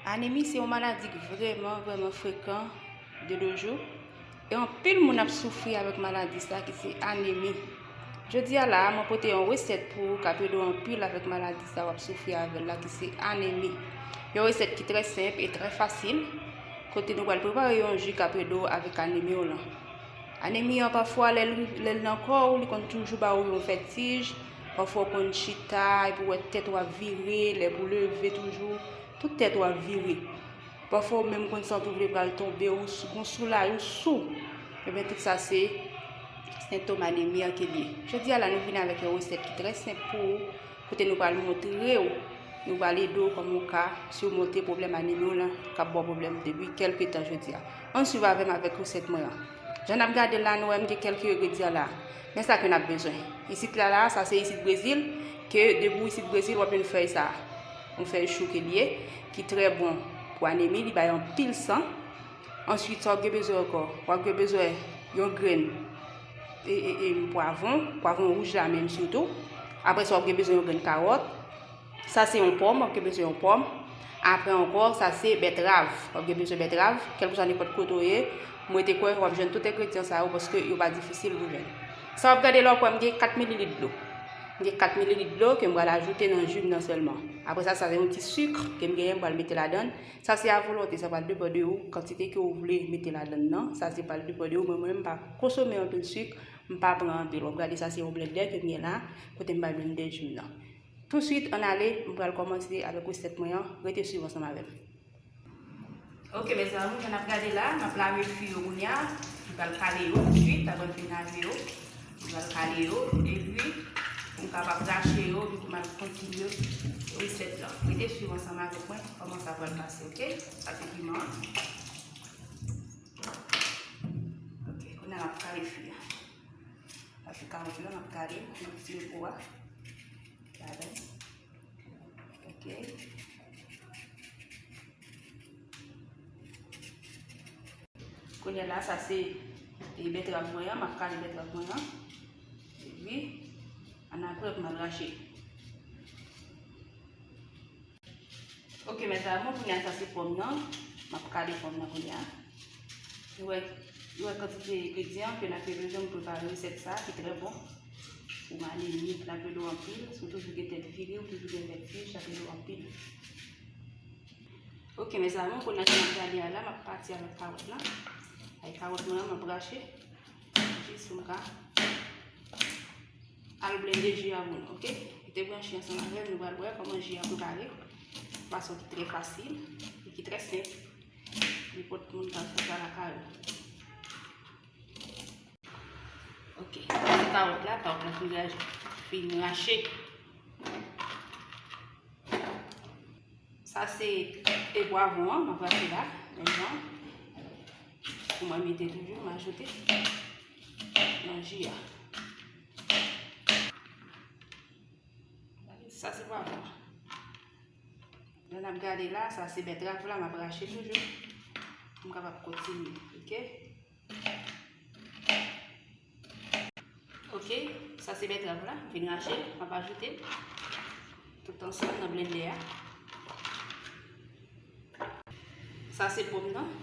Anemi se yon maladi ki vreman, vreman frekan de dojou. E anpil moun ap soufri avèk maladi sa ki se anemi. Jodi a la a mwen pote yon resèt pou ou kap ede w anpil avèk maladi sa wap soufri avèl la ki se anemi. Yon resèt ki trè senp e trè fasil kote nou pral prepare yon ju kap ede w avèk anemi w lan. Anemi an pafwa lè l nan kò ou li konn toujou ba ou yon vètij, pafwa ou konn chita epi wè tèt ou ap vire, lè pou leve toujou tout tèt ou ap vire. Pafwa ou menm konn santi w vle pral tonbe, ou gon soulay, ou sou. Ebyen tout sa se sentom anemi an ki liye. Jodi a la nou vini avèk yon resèt ki trè senp pou ou, kote nou pral montre ou, nou pral ede ou kòman ou ka simonte pwoblèm anemi w lan kap ba w pwoblèm depi kèlke tan jodi a. Ann swiv avè m avèk resèt mwen an. Jan nap gade l la nou wè m gen kèlke engredyan la. Men sa ke nap bezwen. Isit la la, sa se isit Brezil, ke depi w isit Brezil wap jwenn fèy sa a. Nou fè chou ke liye ki trè bon pou anemi li bay anpil san. Answit sa wap gen bezwen ankò? Wap gen bezwen yon grenn e e e pwavon, pwavon wouj la menm sitou. Apre sa wap gen bezwen yon grenn karòt. Sa se yon pòm, wap gen bezwen yon pòm. Apre ankò, sa se bètrav. Wap gen bezwen bètrav, kelkousa nenpòt kote ou ye, mwen te kwè wap jwenn tout engredyan sa yo paske yo pa difisil pou jwenn. Sa wap gade la wap wè m gen 4 mililit dlo. M gen 4 mililit dlo ke m pral ajoute nan ju m nan sèlman. Apre sa sa se yon ti suk ke m genyen m pral mete ladann. Sa se a volonte, sa pral depan de ou kantite ke ou vle mete ladann nan. Sa se pral depan de ou men mwen menm m pa konsome anpil suk, m pa pran anpil. Wap gade sa se yon blendè ke m gen la kote m pral blendè ju m nan. Tou swit an ale m pral kòmanse avèk resèt mwen an, rete swiv ansanm avè m. Ok mes amour jan nap gade la map lave fwi yo kounya m pral kale yo tout swit apre m fin lave yo m pral kale yo epi pou m kapab rache yo epi pou m al kontinye resèt la rete swiv ansanm avèk mwen kòman sa pral pase ok sa se piman an ok kounya map kale fwi a sa se kawòt la map kale m met fil pou a ladann Kounye la sa se e betrav mwen an, m ap kale betrav mwen an. Epi, an apre pou m al rache. Ok, mè zamou, kounye la sa se pòm nan. M ap kale pòm nan kounye la. Nou wè, nou wè kantite egredyan ke n ap bezwen pou prepare resèt sa ki trè bon. Ou ale mit la pèdou anpil, sou toujou gen tèt vire, ou toujou gen vèt fèj la pèdou anpil. Ok, mè sa moun pou nan jan gade a la, mè pati a mè kawot la. Ay kawot moun an mè brache. Jis sou mga. Al blende ji a moun, ok? Te gwen chen sa mè vèm, nou bal wè, kòman ji a pou kare. Paso ki tre fasil, ki tre senk. Li pot moun kan fè sa la kare. Ok, mwen kawot la, kawot la fin raje, fin rache. Sa se te pwavon an, mwen vase la, mwen jan. Mwen mete toujou, mwen ajote. Nan ji a. Sa se pwavon an. Lè n ap gade la, sa se bètrav la m ap rache toujou pou m kapab kontinye. Ok. Ok, sa se bètrav la, m fin rache, m ap ajoute tout ansanm nan blendè a. Sa se pòm nan.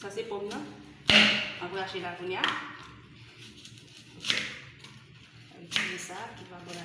Sa se pòm nan. M ap rache la kounye a. Sa ki pa bon la.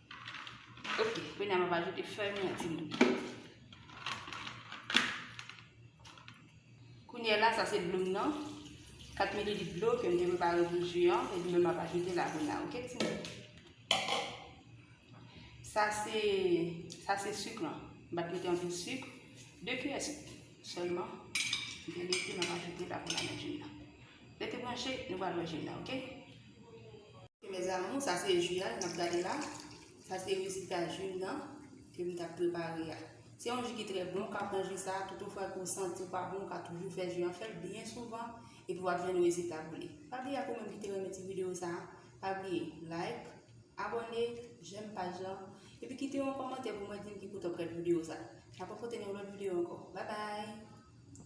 Ok, kounye a m ap ajoute fèy mwen ti moun. Kounye la, sa se dlo m nan. 4 mililit dlo ke m te prepare pou ju an. E dlo m ap ajoute la kounye a, ok ti moun. Sa se, sa se suk lan. M bat mete anpil suk. 2 kiyè suk selman. M te mete, m ap ajoute la kounye a nan ju m nan. Rete branche, nou pral wè ju m nan, ok. Mes amours sa se ju a nap gade la sa se rezilta ju nan ke m tap prepare a se yon ju ki trè bon w ka pran ju sa tout ou fwa ke w santi w pa bon w ka toujou fè ju an fè l byen souvan epi wap jwenn rezilta w vle pa bliye ak ou menm ki te renmen ti video sa pa bliye like abòne jèm paj lan epi kite yon kòmantè pou mwen di m ki kote wap gad video sa nap rankontre nan yon lòt video ankò babay.